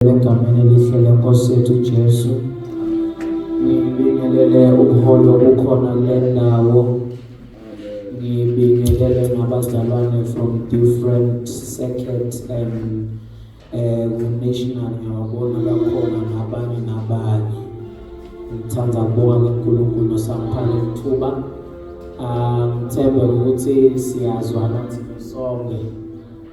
egameni elihle lenkosi yethu Jesu ngibingelele ubuholo kukhona le ndawo ngibingelele nabazalwane from different circuits and eh national ngiyabona bakhona nabanye nabanye ngithanda ukubonga kuNkulunkulu osamphana ithuba um thembe ukuthi siyazwana thina sonke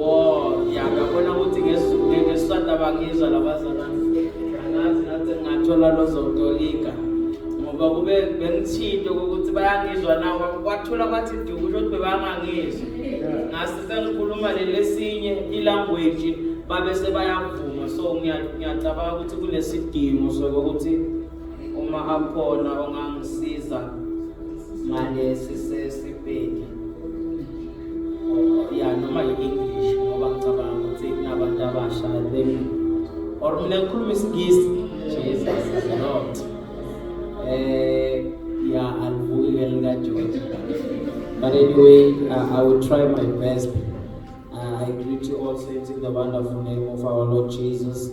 Oh, ya ngabona ukuthi ngesisanda bangizwa labazalwane. Angazi ngathi ngathola lozotolika. Ngoba kube bengithinte ukuthi bayangizwa na kwathula kwathi duku ukuthi bebangangizwa. Ngase sengikhuluma lelesinye ilanguage babe sebayavuma so ngiyacabanga ukuthi kunesidingo sokuthi uma akhona ongangisiza ngalesi sesibheki oh, ya noma yi-english ngoba ngicabanga ukuthi kunabantu abasha then or mina ngikhuluma isingisi jesus is lord eh ya alivuki ke likajoji but anyway uh, i will try my best uh, i greet you all saints in the wonderful name of our lord jesus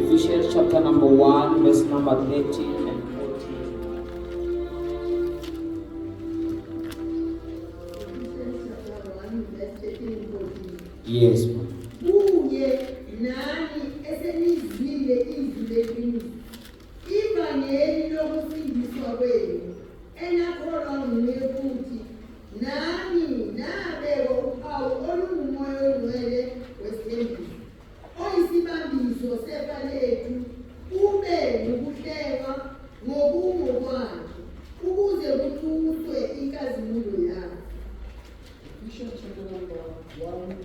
Ephesians chapter number 1 verse number 13 Yes. Kuye nani esenizwile izwi leqiniso. Ivangeli lokusindiswa kwenu enakholwa nguye futhi Nami nabekwa uphawu olungumoya ongcwele wesithembiso, oyisibambiso sefa lethu, ube ngukuhlekwa ngokungokwakhe, ukuze kuthuswe inkazimulo yakhe. Isho njalo ngoba wami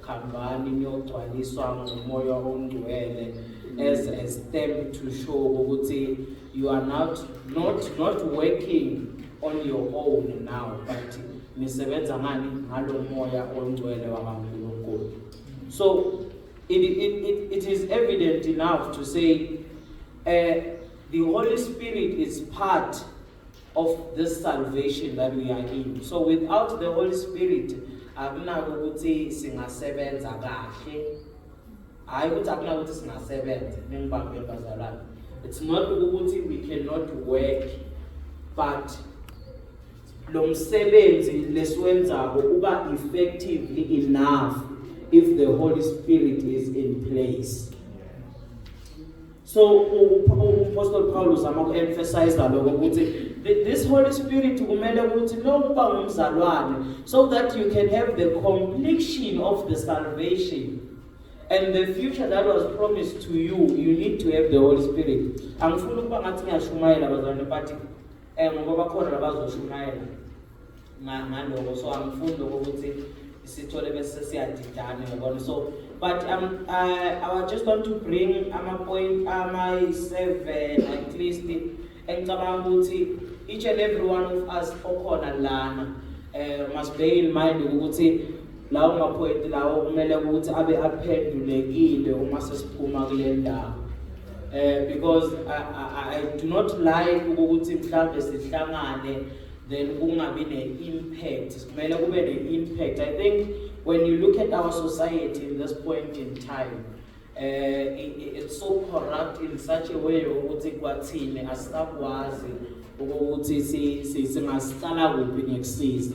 Hambani niyogcwaliswa ngomoya ongcwele as a step to show ukuthi you are not not not working on your own now but nisebenza ngani ngalo moya ongcwele wakaNkulunkulu so it, it, it, it is evident enough to say uh, the Holy Spirit is part of this salvation that we are in so without the holy spirit akunako ukuthi singasebenza kahle hayi ukuthi akunako ukuthi singasebenza ningibambe bazalwane it's not ukuthi we cannot work but lo msebenzi lesiwenzako uba effectively enough if the holy spirit is in place So uApostle Paul uzama ukuemphasize lokho ukuthi this Holy Spirit kumele ukuthi nokuba ngumzalwane so that you can have the completion of the salvation and the future that was promised to you you need to have the Holy Spirit. Angifuni ukuba ngathi ngiyashumayela bazalwane but eh ngoba bakhona abazoshumayela. ngaloko so angifundi lokho ukuthi sithole bese siyadidana yabona so but um, I, I just want to bring ama-point amayi-seven at least engicabanga ukuthi each and every one of us okhona lana um must bear in mind ukuthi lawo maphoyinti lawo kumele ukuthi abe aphendulekile uma sesiphuma kule ndawo um because I, I, I do not like ukuthi mhlawumbe sihlangane then kungabi ne-impact kumele kube ne-impact i think when you look at our society in this point in time uh, it, it's so corrupt in such a way ukuthi kwathini asisakwazi ukuthi singasicala kuphi ngekusiza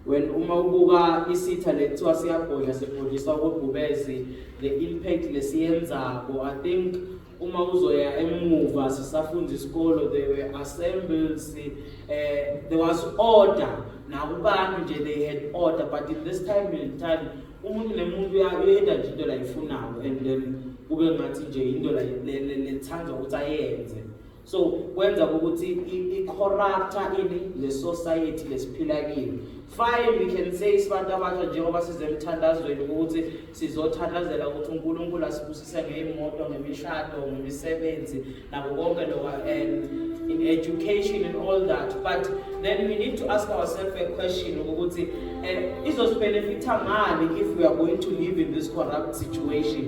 when uma ubuka isitha lekuthiwa siyabhodla sibhodliswa kobhubezi the impact lesiyenzako i think uma uzoya emuva sisafunda isikolo they were assembled si, uh, there was order nakubantu nje they had order but in this time in time umuntu nemuntu uyenza nje into layifunayo and then kube ngathi nje into lethanda ukuthi ayenze so kwenza ukuthi i-corrupta ini le society lesiphila kini fine we can say sibantu abasha njengoba size emthandazweni ukuthi sizothandazela ukuthi unkulunkulu asibusise ngey'moto ngemishado ngemisebenzi nako konke lokho and in education and all that but then we need to ask ourselves a question ukuthi um eh, izosibhenefitha ngani if we are going to live in this corrupt situation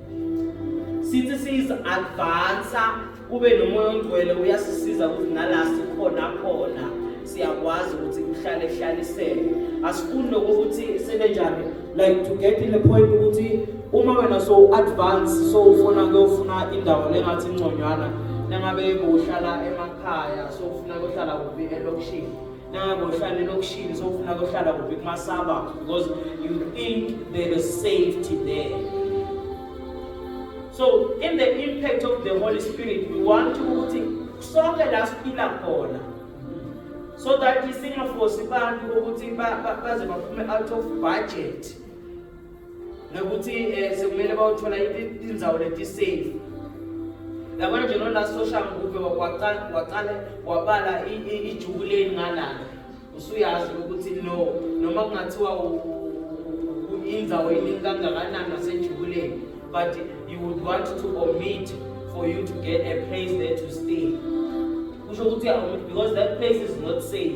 sithi siyizi-advansa kube nomoya ongcwele uyasisiza ukuthi nala sikhona khona siyakwazi ukuthi kuhlale hlaliseke asifuni nokuthi sebenjani like to get in the point ukuthi uma wena so advance so ufuna kuyofuna indawo lengathi inconywana nangabe bohlala emakhaya so ufuna kuyohlala kuphi elokishini nabo uhlale lokishini sofuna kohlala kuphi kumasaba because you think there is safety there so in the impact of the holy spirit we want ukuthi sonke la siphila khona so that singafosi abantu ukuthi baze baphume out of budget nokuthi um eh, sekumele bawuthola inzawo letisafe yabona nje nola social ngube waqale wabala ijuku leni ngalana usuyazi ukuthi no noma kungathiwa inzawo iningi kangakanani nasejukuleni but you would want to omit for you to get a place there to stay kusho ukuthi because that place is not safe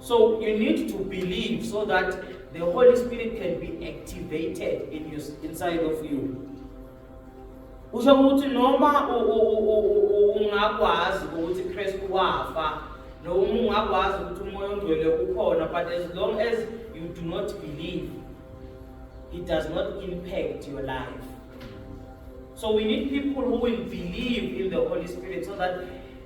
So you need to believe so that the Holy Spirit can be activated in you, inside of you. Kusho ukuthi noma ungakwazi ukuthi Kristu wafa noma ungakwazi ukuthi umoya ongcwele ukhona but as long as you do not believe it does not impact your life. So we need people who will believe in the Holy Spirit so that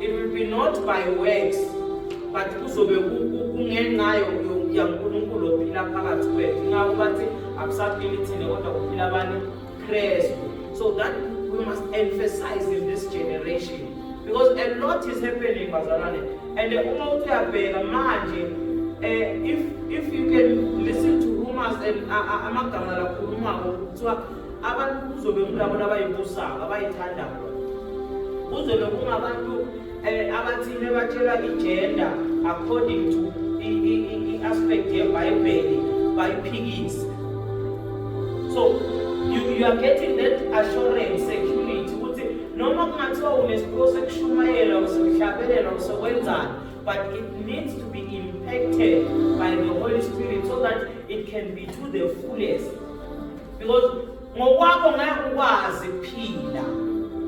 It will be not by works but kuzobe kungenxa yaNkulunkulu ophila phakathi kwethu ingakho bathi akusaphili thina kodwa kuphila abanye Kristu so that we must emphasize in this generation because a lot is happening bazalwane and uma uthi uyabheka manje um if, if you can listen to rumors and amagama lakhulumako kuthiwa abantu kuzobe kulabo labayibusayo abayithandayo kuzobe kungabantu um eh, abathile batshelwa ijenda according to i-aspect yebhayibheli bayiphikise so you, you are getting that assurance security ukuthi noma kungathiwa unesiphiwo sekushumayela usehlabelela usekwenzani but it needs to be impacted by the holy spirit so that it can be to the fullest because ngokwakho ngeke ukwazi kuphila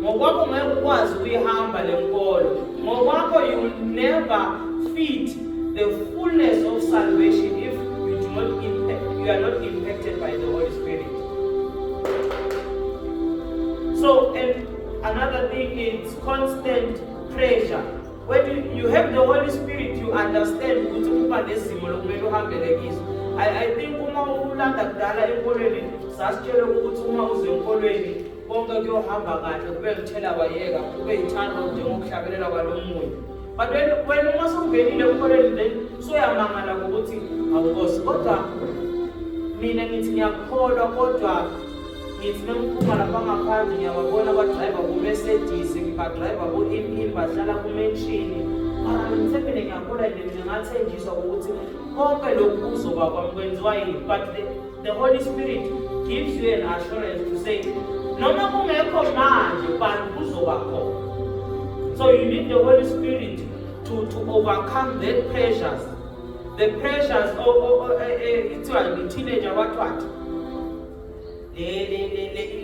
ngokwakho ngeke ukwazi ukuyihamba le nkolo ngokwakho you will never fit the fullness of salvation if you do not impact, you are not impacted by the Holy Spirit so and another thing is constant pressure When you, you have the Holy Spirit, you understand ukuthi uba nezimo lokumele uhambele kizo. I, I think uma ulanda kudala enkolweni sasitshela ukuthi uma uze enkolweni konke kuyohamba kahle kube ngithela wayeka kube yithando njengokuhlabelela kwalo moya. But when when uma sungenile enkolweni then soyamangala ukuthi awukosi kodwa mina ngithi ngiyakholwa kodwa ngifuna ukuphuma lapha ngaphandle ngiyababona abadriver ku-mercedes ngibadriver ku-impim bahlala kumenshini mara ngimthembele ngiyakula nje mina ngathenjiswa ukuthi konke lokhu kuzoba kwami kwenziwa yini but the, the holy spirit gives you an assurance to say noma kungekho manje but kuzoba khona so you need the holy spirit to, to overcome that pressures the pressures oh, oh, oh, eh, eh, ithiwa i-teenager wathwathi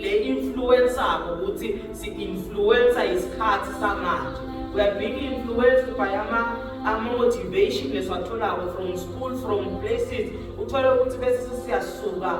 le influence abo ukuthi si-influensa isikhathi samanje we are being influenced by ama ama-motivation lesiwatholako from school from places uthole ukuthi bese siyasuka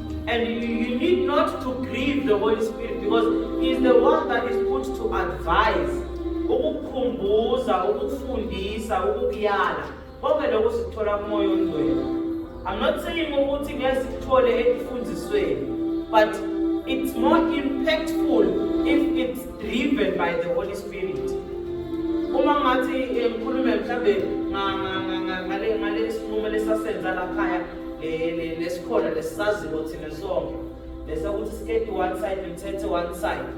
And you, you need not to grieve the Holy Spirit because He is the one that is put to advise, ukukukhumbuza, ukukufundisa, ukukuyala. Konke lokho sikuthola kuMoya oNgcwele. I'm not saying ukuthi ngeke sikuthole ekufundisweni, but it's more impactful if it's driven by the Holy Spirit. Uma ngathi eh, ngikhulume mhlambe ngale ngale sinqumo lesasenza lakhaya lesikhona lesisaziwo thina sonke bese ukuthi skate one side mthethe one side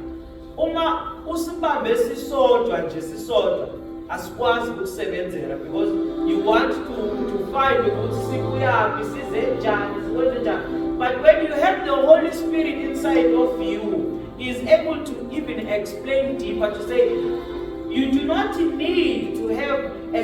uma usibambe sisodwa nje sisodwa asikwazi ukusebenzela because you want to to find ukuthi sikuyaphi size njani sikwenze njani but when you have the holy spirit inside of you is able to even explain deeper to say you do not need to have a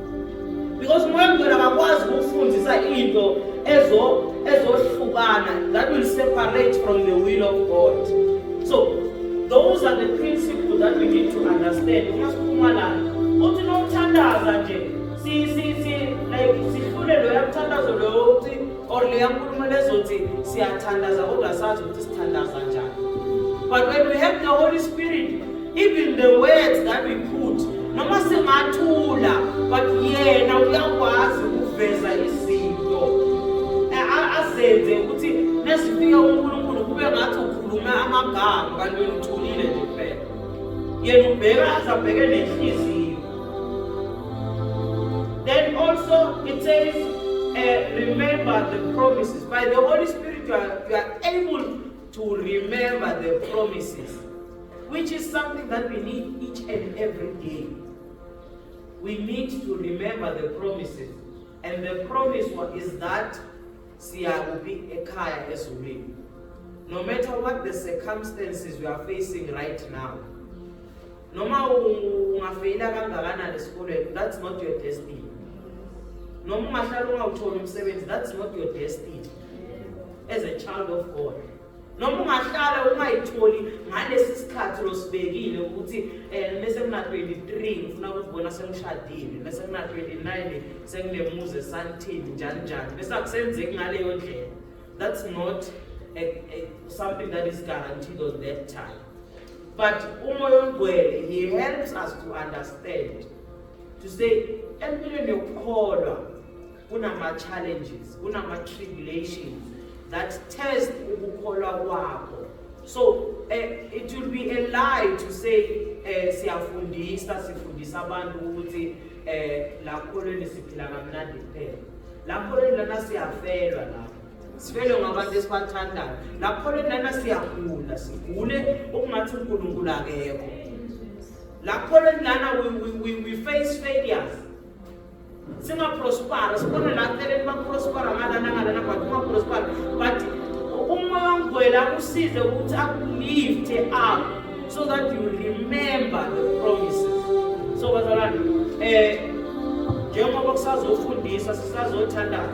because umoya ongcwele akakwazi ukufundisa into ezo ezohlukana that will separate from the will of god so those are the principles that we need to understand uma siphuma lana uthi nomthandaza nje si si si like sihlule lo yamthandazo lo uthi or le yankulumo lezothi siyathandaza kodwa sazi ukuthi sithandaza njani but when we have the holy spirit even the words that we put noma singathula but yena uyakwazi ukuveza izinto azenze ukuthi nesifika uNkulunkulu kube ngathi ukhuluma amagama kanti uyithulile nje phela yena ubheka azabheke nenhliziyo then also it says uh, remember the promises by the holy spirit you are, you are able to remember the promises Which is something that we need each and every day. We need to remember the promises. And the promise one is that siyakuphi ekhaya ezulwini. No matter what the circumstances we are facing right now. Noma ungafeyila kangakanani esikolweni, that's not your destiny. Noma ungahlala ungawutholi umsebenzi, that's not your destiny. As a child of God. noma ungahlala ungayitholi ngalesi sikhathi losibekile ukuthi um mese kuna-twenty-three ngifuna ukuzibona sengishadile mese kuna-twenty-nine senginemuzi esantini njani njani bese akusenzeki ngaleyo ndlela that's not a, a, something that is guaranteed on that time but umoya ongcwele he helps us to understand to say empilweni yokukholwa kunama-challenges kunama-tribulations that test ukukholwa kwakho so uh, it will be a lie to say uh, siyafundisa sifundisa abantu ukuthi um la kholweni siphila kamnandi kuphela la kholweni lana siyafelwa la sifelwe ngabantu esibathandayo la kholweni lana siyagula sigule okungathi unkulunkulu akekho la kholweni lana we, we, we, we face failures singaprospara sibone la celeni baprospara ngalana ngalana but ungaprospara but umoya ongcwele akusize ukuthi akulifte up so that you remember the promises so bazalwane um njengoba kusazofundiswa sisazothandaza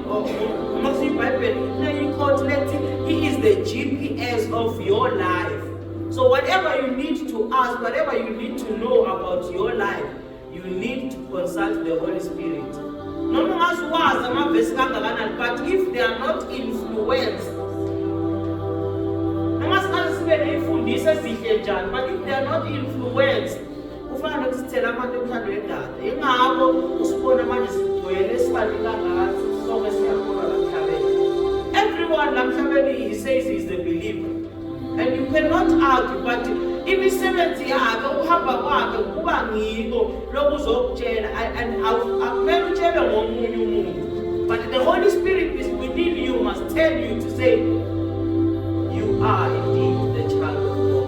Ngoba iBhayibheli lineyikhoti lethi he is the GPS of your life. So whatever you need to ask, whatever you need to know about your life, you need to consult the Holy Spirit. Noma ungazi wazi amavesi kangakanani but if they are not influenced noma singaze sibe ney'mfundiso ezihle njani but if they are not influenced Kufana nokuthi thina abantu emthando wendalo. Ingakho usibona manje sigcwele sibaningi kangaka sonke siyakholwa la mhlabeni. Everyone la mhlabeni he says he is a believer. And you cannot argue but imisebenzi yakhe ukuhamba kwakhe kuba ngiko lokuzokutshela and akumele utshelwe ngomunye umuntu. But the Holy Spirit is within you must tell you to say you are indeed the child of God.